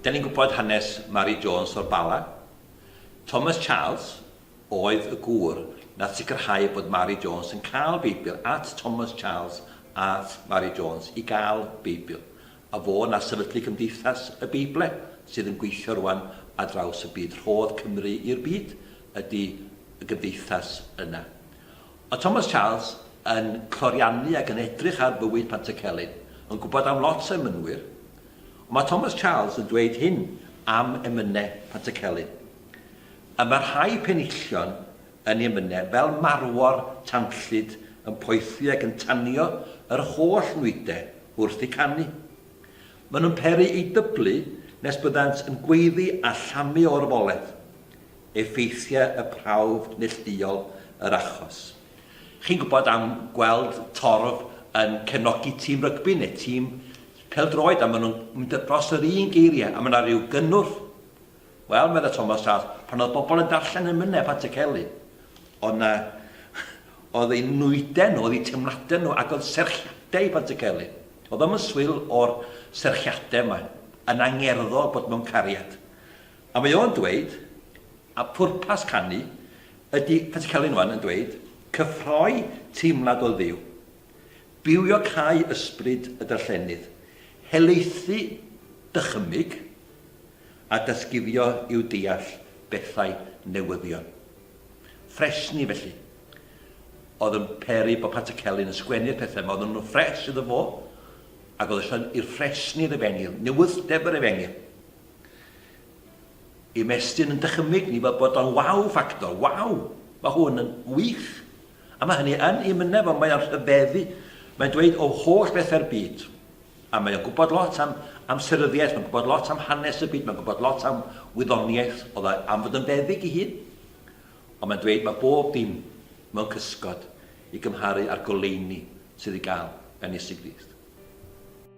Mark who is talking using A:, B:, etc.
A: Da ni'n gwybod hanes Mari Jones o'r Bala. Thomas Charles oedd y gŵr nath sicrhau bod Mari Jones yn cael Beibl at Thomas Charles at Mari Jones i gael Beibl. A fo na sefydlu Cymdeithas y Beible sydd yn gweithio rwan ar draws y byd. Rhodd Cymru i'r byd ydy y gymdeithas yna. Mae Thomas Charles yn cloriannu ac yn edrych ar fywyd Pantycelyn, yn gwybod am lot o emynwyr, ond mae Thomas Charles yn dweud hyn am emynau Pantycelyn, Y mae rhai penillion yn ei emynau fel marwor tanllyd yn poethi ac yn tanio yr holl nwydau wrth eu canu. Maen nhw'n peri eu dyblu nes byddant yn gweiddi a llamu o orfoledd. effeithiau y prawf neillduol yr achos. Chi'n gwybod am gweld torf yn cefnogi tîm rygbi neu tîm pêl-droed a maen nhw'n mynd dros yr un geiriau a mae yna rhyw gynnwrf? Wel, meddai Thomas Charles, pan oedd bobl yn darllen yn myned at y celyn, oedd yna... oedd eu nwydau nhw, oedd eu teimladau nhw ac oedd serchiadau i Pant y Celyn. Oedd o'm yn swil o'r serchiadau yma, yn angerddol bod mewn cariad. A mae o'n dweud, a phwrpas canu ydi, fel ti Celyn wan yn dweud, cyffroi teimlad o Dduw, bywio cau ysbryd y darllenydd, helaethu dychymyg, a datguddio i'w deall bethau newyddion. Ffresni, felly, oedd yn peri bod Patrick Celyn yn sgwennu'r pethau yma, oedden nhw'n ffres iddo fo, ac oedd eisiau i'r ffresni'r efengyl, newydd-ddefr efengyl, Ymestyn yn dychymyg ni fel bod o'n wow ffactor, wow! Mae hwn yn wych! A mae hynny yn i mynedd fo, mae o'n rhyfeddu, mae'n dweud o holl bethau'r byd. A mae o'n gwybod lot am amseryddiaeth, mae'n gwybod lot am hanes y byd, mae'n gwybod lot am wyddoniaeth, oedd e am fod yn feddyg i hun. Ond mae'n dweud mae bob dim mewn cysgod i gymharu â'r goleuni sydd i gael gan Iesu Grist.